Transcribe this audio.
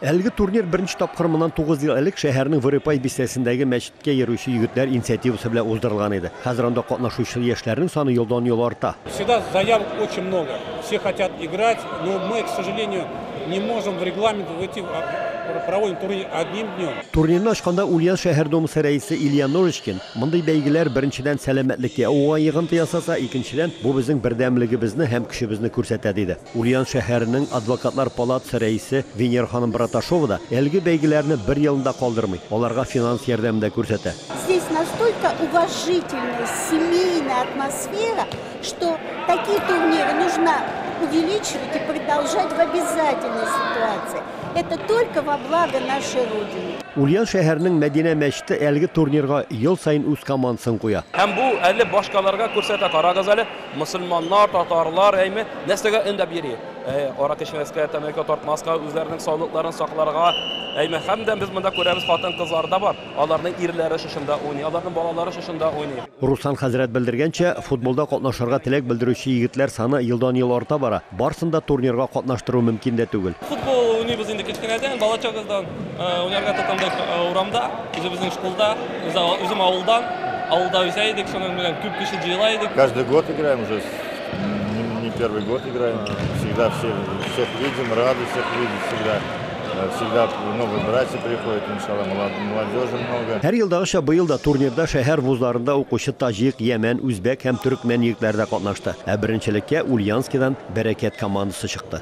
Әлеге турнир беренче тапкыр моннан тугыз ел элек шәһәрнең Вырыпай бистәсендәге мәчеткә йөрүче егетләр инициативасы белән уздырылган иде. Хәзер анда катнашучы яшьләрнең саны елдан-ел арта. Сюда заявок очень много, все хотят играть, но мы, к сожалению, не можем в регламент войти, проводим турнир одним днем. Турнирны ачканда Ульян шәһәр Думасы рәисе Илья Ножичкин, Мондый бәйгеләр, беренчедән, сәламәтлеккә уңай йогынты ясаса, икенчедән, бу безнең бердәмлегебезне һәм көчебезне күрсәтә, диде. Ульян шәһәренең Адвокатлар палатасы рәисе Венера ханым Браташова да әлеге бәйгеләрне бер елында калдырмый, аларга финанс ярдәмен дә күрсәтә. Здесь настолько уважительная, семейная атмосфера, что такие турниры нужно увеличивать и продолжать в обязательной ситуации. Это только во благо нашей Родины. Ульян шәһәренең Мәдинә мәчете әлеге турнирга ел саен үз командасын куя. Һәм бу әле башкаларга күрсәтә, карагыз әле. Мөселманнар, татарлар, әйме, нәрсәгә өндәп йөри? Әй, арак эчмәскә, тәмәке тартмаска, үзләренең саулыкларын сакларга. Әйме, һәм дә без монда күрәбез, хатын-кызлар да бар. Аларның ирләре шушында уйный, аларның балалары шушында уйный. Руслан хәзрәт белдергәнчә, футболда катнашырга теләк белдерүче егетләр саны елдан-ел арта бара. Барсын да турнирга катнаштыру мөмкин дә түгел. Футбол уйныйбыз инде кечкенәдән, балачагыздан уйнарга тотындык урамда, үзебезнең школда, үзем авылдан, авылда үсә идек, шуның белән күп кеше җыела идек. Каждый год играем уже, не первый год играем, всегда всех видим, рады всех видеть всегда. Всегда много братьев приходит, иншалла, молодежи много. Һәр елдагыча быел да турнирда шәһәр вузларында укучы таҗик, йәмән, үзбәк һәм төрекмән егетләре дә катнашты. Ә беренчелеккә Ульянскидан Бәрәкәт командасы чыкты.